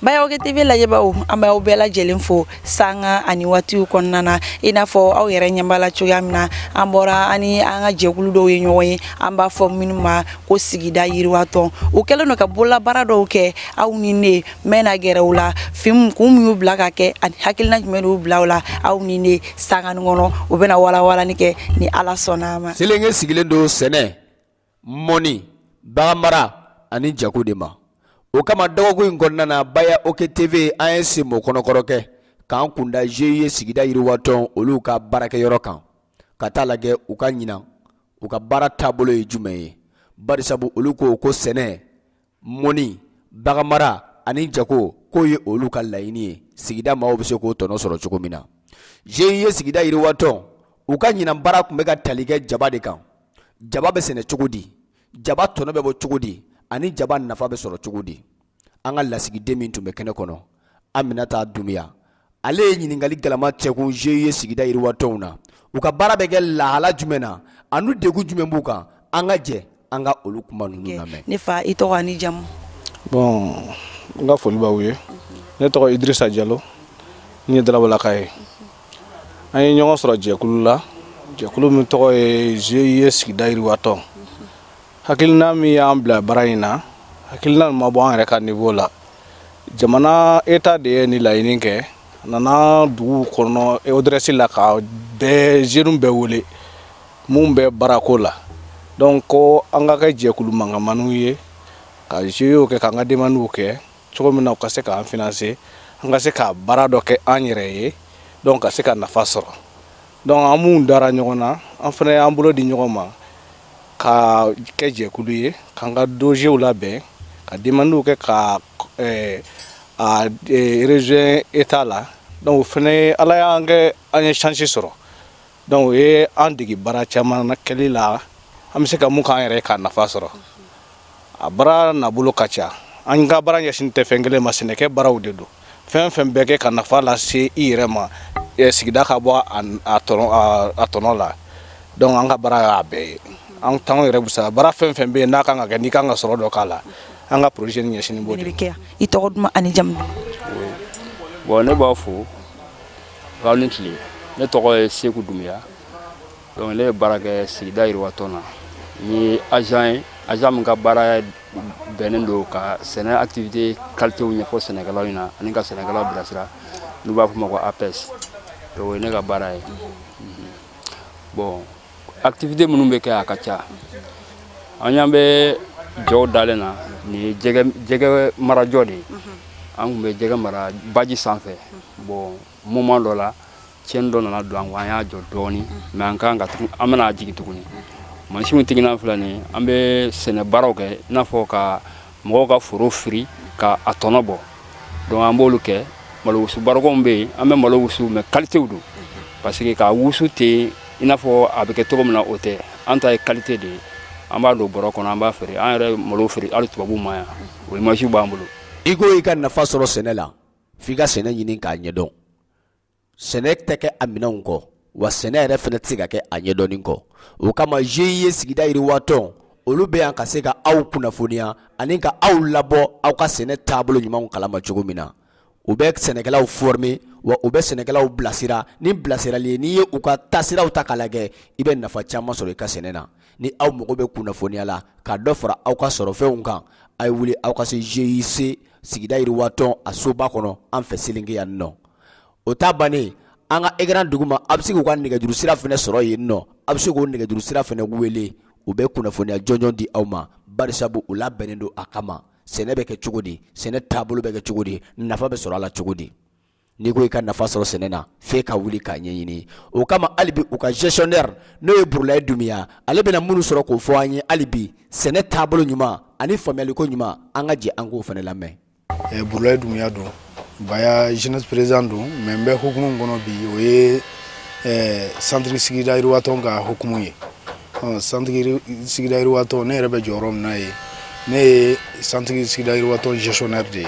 baya oke tv lajɛbaaw an b'aw bɛɛ lajɛlen fo sanga ani waatiw kɔnɔna na i n'a fɔ aw yɛrɛ ɲɛ b'a la cogoya min na an bɔra ani an ka jɛkulu dɔw ye ɲɔgɔn ye an b'a fɔ minnu ma ko sigida yiriwatɔn u kɛlen don ka bololabaara dɔw kɛ aw ni ne bɛna gɛrɛ u la fɛn kun min y'u bila k'a kɛ ani hakilina jumɛn y'u bila u la aw ni ne sanga nin kɔnɔ u bɛna walawalani kɛ ni ala sɔnna a ma selenge sigilen don sɛnɛ mɔni baganmara ani jago de ma o kama dɔgɔkun in kɔnɔna na baya oke tv an ye senbɔ kɔnɔkɔrɔ kɛ k'an kun da GIE sigida yiriwatɔn olu ka baarakɛyɔrɔ kan ka t'a lajɛ u ka ɲinan u ka baara taabolo ye jumɛn ye barisabu olu ko ko sɛnɛ mɔni, baganmara ani jago k'o ye olu ka laɲini ye, sigida maaw bɛ se k'o tɔnɔ sɔrɔ cogo min na. GIE sigida yiriwatɔn, u ka ɲinan baara kun bɛ ka tali kɛ jaba de kan. Jaba bɛ sɛnɛ cogo di? Jaba tɔnɔ bɛ bɔ cogo di? Ani jaba nafa bɛ sɔrɔ cogo di? An ka lasigiden min tun bɛ kɛnɛ kɔnɔ, aminata dumuya ale ye ɲininkali galama cɛkun GIE sigida yiriwatɔnw na u ka baara bɛ kɛ lahala jumɛn na ani degun jumɛn b'u kan an ka jɛ an ka olu kuma ninnu lamɛn ne fa i tɔgɔ ni jamu bon n ka foli b'aw ye ne tɔgɔ idirisa jalo n ye dalabalaka ye an ye ɲɔgɔn sɔrɔ jɛkulu la jɛkulu min tɔgɔ ye GIE sigida yiriwatɔn hakilina min y'an bila baara in na hakilina ma bɔ an yɛrɛ ka niveau la jamana état de ye nin laɲini kɛ nana duguw kɔnɔ ODRS la ka bɛɛ jeunew bɛɛ wele mun bɛ baarako la donc ko an ka kɛ jɛkulu mankanmaniw ye ka GIEw kɛ k'an ka demandiw kɛ cogo min na u ka se k'an financer an ka se ka baara dɔ kɛ an yɛrɛ ye donc ka se ka nafa sɔrɔ donc an minnu dara ɲɔgɔn na an fana y'an bolo di ɲɔgɔn ma ka kɛ jɛkulu ye k'an ka dossierw labɛn ka demandiw kɛ ka eh, a eh, région état la donc o fana ala y'a kɛ an ye chance sɔrɔ donc u ye an dege baara caman na kɛli la an bɛ se ka mun k'an yɛrɛ ye k'a nafa sɔrɔ a baara nabolo ka ca an ka baara ɲɛsinnen tɛ fɛn kelen ma sɛnɛkɛ baaraw de don fɛn fɛn bɛ kɛ ka nafa lase i yɛrɛ ma sigida ka bɔ a tɔnɔ la donc an ka baara y'a bɛɛ ye an t'anw yɛrɛ busa baara fɛn fɛn bɛ yen n'a kan ka kɛ n'i kan ka sɔrɔ dɔ k'a la an ka projet nin ɲɛsinnen b'o de kɛ i tɔgɔ duman ani jamu bon ne b'aw fo aw ni tile ne tɔgɔ ye seku dumuya donc ne bɛ baara kɛ sigida yiriwatɔn na n ye agent ye agent min ka baara bɛnnen don ka sɛnɛ activité kalitew ɲɛfɔ sɛnɛkɛlaw ɲɛna ani ka sɛnɛkɛlaw bilasira n'u b'a f'o ma ko APS donc o ye ne ka baara ye mhm. bon activité minnu bɛ kɛ a ka ca an y'an bɛ jɔw dalen na nin ye jɛgɛ jɛgɛ marajɔ de ye mhm. an tun bɛ jɛgɛ mara baji sanfɛ mhm. bon moment dɔ la tiɲɛni dɔ nana don an ko an y'a jɔ dɔɔni mais an kan ka tugun an bɛna jigin tuguni mansinw tiginan filɛ nin an bɛ sɛnɛ baaraw kɛ i n'a fɔ ka mɔgɔw ka foro firi ka a tɔnɔ bɔ donc an b'olu kɛ malo wusu barikonw bɛ yen an bɛ malo wusu mais kalitew don parce que k'a wusu ten i n'a fɔ a bɛ kɛ cogo min na o tɛ an ta ye kalite de ye an b'a don bɔrɔ kɔnɔ an b'a feere an yɛrɛ malo feere hali tubabuw ma yan o imasiw b'an bolo i ko i ka nafa sɔrɔ sɛnɛ la f'i ka sɛnɛ ɲini k'a ɲɛdɔn sɛnɛ tɛ kɛ a minɛnw kɔ wa sɛnɛ yɛrɛ fana tɛ se ka kɛ a ɲɛdɔnni kɔ o kama GIE sigida yiriwatɔn olu bɛ yan ka se ka aw kunnafoniya ani ka aw labɔ aw ka sɛnɛ taabolo ɲumanw kalama cogo min na u bɛ sɛnɛkɛlaw former wa u bɛ sɛnɛkɛlaw bilasira ni bilasirali ye n'i ye u ka taasiraw ta k'a lajɛ i bɛ nafa caman sɔrɔ i ka sɛnɛ na ni aw mago bɛ kunnafoniya la ka dɔ fara aw ka sɔrɔfɛnw kan a ye wuli aw ka se GIE sigida yiriwatɔn a soba kɔnɔ an fɛ Selenge yan nɔ o ta bannen an ka écran duguma a bɛ se k'u ka nɛgɛjuru sira fana sɔrɔ yen nɔ a bɛ se k'o nɛgɛjuru sira fana wele u bɛ kunnafoniya jɔnjɔn di aw ma barisabu u labɛnnen don a kama sɛnɛ bɛ kɛ cogo di sɛnɛ taabolo bɛ kɛ cogo di nafa bɛ sɔrɔ a la cogo di n'i ko i ka nafa sɔrɔ sɛnɛ na f'e ka wuli k'a ɲɛɲini o kama hali bi u ka gestionnaire n'o ye burulaye dumiya ale bɛna minnu sɔrɔ k'o fɔ an ye hali bi sɛnɛ taabolo ɲuman ani faamuyaliko ɲuman an ka jɛ an k'o fana lamɛn eh, burulaye dumiya don baya jeunesse président don mais n bɛ hukumu min kɔnɔ bi o ye eh, centre sigida yiriwatɔn ka hukumu ye centre sigida yiriwatɔn ne yɛrɛ bɛ jɔyɔrɔ min na ye ne ye centre sigida yiriwatɔn gestionnaire de ye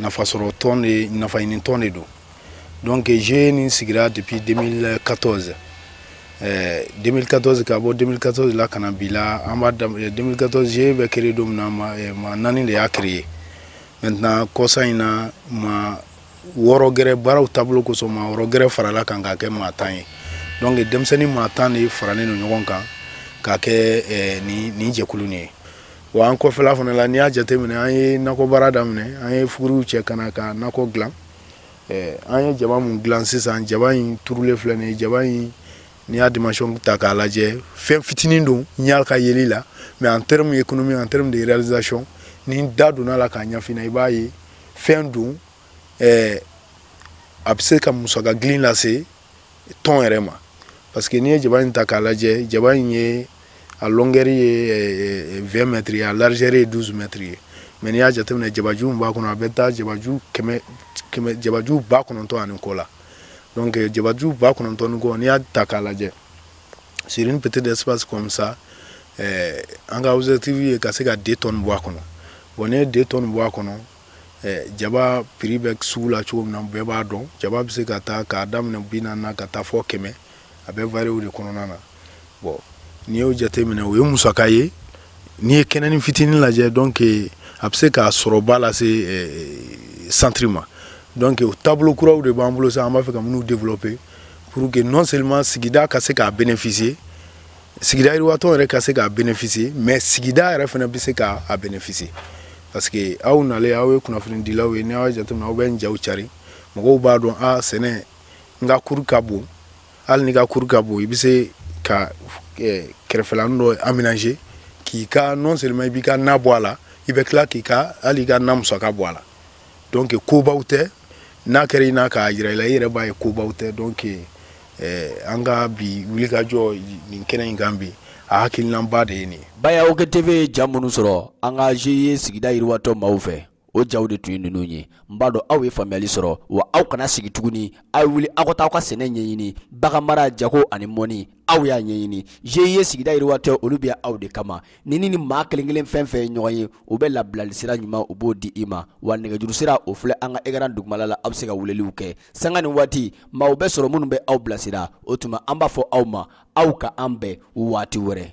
nafasɔrɔ tɔn de nafaɲini tɔn de don donc GIE nin sigira depuis 2014 eh, 2014 ka bɔ 2014 la ka na bi la an b'a 2014 GIE bɛ créer don min na maa, eh, maa naani de y'a créer maintenant kɔsa in na maa wɔɔrɔ gɛrɛ baaraw taabolo kosɔn maa wɔɔrɔ gɛrɛ farala kan k'a kɛ maa tan ye donc denmisɛnnin maa tan de faralen don ɲɔgɔn kan k'a kɛ eh, nin, nin jɛkulu nin ye wa an kɔfɛla fana la n'i y'a jateminɛ an ye nakɔbaara daminɛ an ye fuguriw cɛ ka na ka nakɔ dilan eh, an ye jaba mun dilan sisan jaba in turulen filɛ nin ye jaba in n'i y'a dimension ta k'a lajɛ fɛn fitinin don ɲa ka yeli la mais en terme économique en terme de réalisation ni n da donna la k'a ɲɛfina i b'a ye fɛn don eh, a bɛ se ka musaka gilin lase tɔn yɛrɛ ma parce que n'i ye jaba in ta k'a lajɛ jaba in ye a longueur ye 20 eh, mètres ye a largeur ye 12 mètres ye mais n'i y'a jateminɛ jabaju min b'a kɔnɔ a bɛ taa jabaju kɛmɛ kɛmɛ jabaju ba kɔnɔntɔn ani kɔ la donc eh, jabaju ba kɔnɔntɔn ni kɔ n'i y'a ta k'a lajɛ sur une petite espace comme ça eh, an ka objectif ye ka se ka 2 tonnes bɔ a kɔnɔ bon n'i ye 2 tonnes bɔ a kɔnɔ jaba prix bɛ sugu la cogo min na bɛɛ b'a dɔn jaba bɛ se ka taa k'a daminɛ bi naani na ka taa fɔ kɛmɛ a bɛ varier o de kɔnɔna na bon n'i y'o jateminɛ o ye musaka ye n'i ye kɛnɛni fitinin lajɛ donc a bɛ se ka sɔrɔba lase centre ma donc o taabolo kuraw de b'an bolo sa an b'a fɛ ka minnu développer pour que non seulement sigida ka se k'a bénéficier sigida yiriwatɔn yɛrɛ ka se k'a bénéficier mais sigida yɛrɛ fana bɛ se k'a bénéficier parce que aw nalen aw ye kunnafonidilaw ye ni aw y'a jateminɛ aw bɛ n jaw cari mɔgɔw b'a dɔn a sɛnɛ n ka cour ka bon hali n'i ka cour ka bon i bɛ se ka kɛrɛfɛlani dɔ aménager k'i ka non seulement i b'i ka na bɔ a la i bɛ tila k'i ka hali i ka na musaka bɔ a la donc kobaw tɛ n'a kɛra i n'a k'a jira i la i yɛrɛ b'a ye kobaw tɛ donc eh, an ka bi wulikajɔ nin kɛnɛ in kan bi a hakilinaba de ye nin ye Baya OK TV ye ja minnu sɔrɔ an ka GIE sigida yiriwatɔn maaw fɛ o jaw de tun ye ninnu ye n b'a dɔn aw ye faamuyali sɔrɔ wa aw kana sigi tuguni aw ye wuli aw ka taa aw ka sɛnɛ ɲɛɲini bagan mara jago ani mɔnni aw y'a ɲɛɲini GIE sigida yiriwatɔn olu bɛ aw de kama ni ni maa kelen kelen fɛn fɛn ye ɲɔgɔn ye u bɛ labilali sira ɲuman u b'o di i ma wa nɛgɛjuru sira o filɛ an ka écran dugumala la aw bɛ se ka weleliw kɛ sanga ni waati maaw bɛ sɔrɔ minnu bɛ aw bilasira o tuma an b'a fɔ aw ma aw ka an bɛn waati wɛrɛ